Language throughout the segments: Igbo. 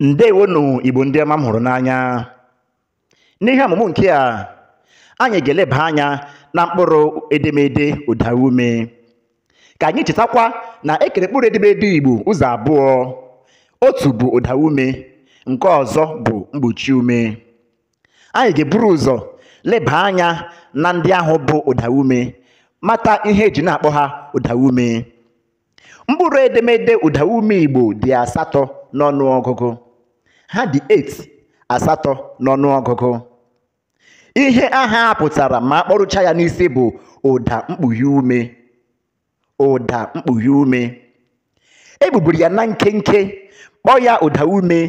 ndewonụ igbo ndị ọma m hụrụ n'anya n'ihe ọmụmụ nke a anyị ga-eleba anya na mkpụrụ edemede ụdaume ka anyị chetakwa na e kere mkpụrụ edemede igbo ụzọ abụọ otu bụ ụdaume nke ọzọ bụ mgbochi ume anyị ga-eburu ụzọ leba anya na ndị ahụ bụ ụdaume mata ihe e ji na-akpọ ha ụdaume mkpụrụ edemede ụdaume igbo dị asatọ n'ọnụọgụgụ ha dị 8 asatọ n'ọnụọgụgụ ihe aha a pụtara ma a kpọrucha ya n'isi bụ ụda mkpughe ume ụda mkpughe ume e gbuburu ya na nkenke kpọọ ya ụda ume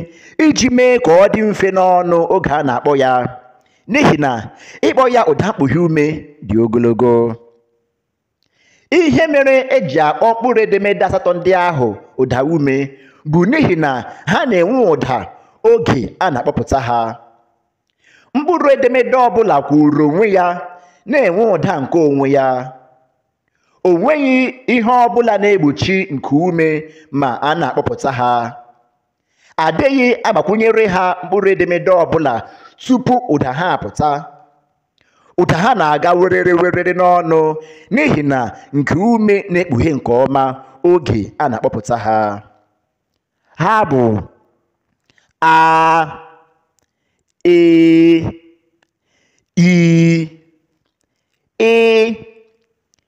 iji mee ka ọ dị mfe n'ọnụ oge a na-akpọ ya n'ihi na ịkpọ ya ụda mkpughe ume dị ogologo ihe mere e ji akpọ mkpụrụ edemede asatọ ndị ahụ ụda ume bụ n'ihi na ha na-enwe ụda oge a na-akpọpụta ha mkpụrụ edemede ọbụla kwụụrụ onwe ya na-enwe ụda nke onwe ya o nweghị ihe ọbụla na-egbochi nku ume ma a na-akpọpụta ha a dịghị agbakwunyere ha mkpụrụ edemede ọbụla tupu ụda ha apụta ụda ha na-aga werere werere n'ọnụ n'ihi na nku ume na-ekpughe nke ọma oge a na-akpọpụta ha ha bụ a e i ị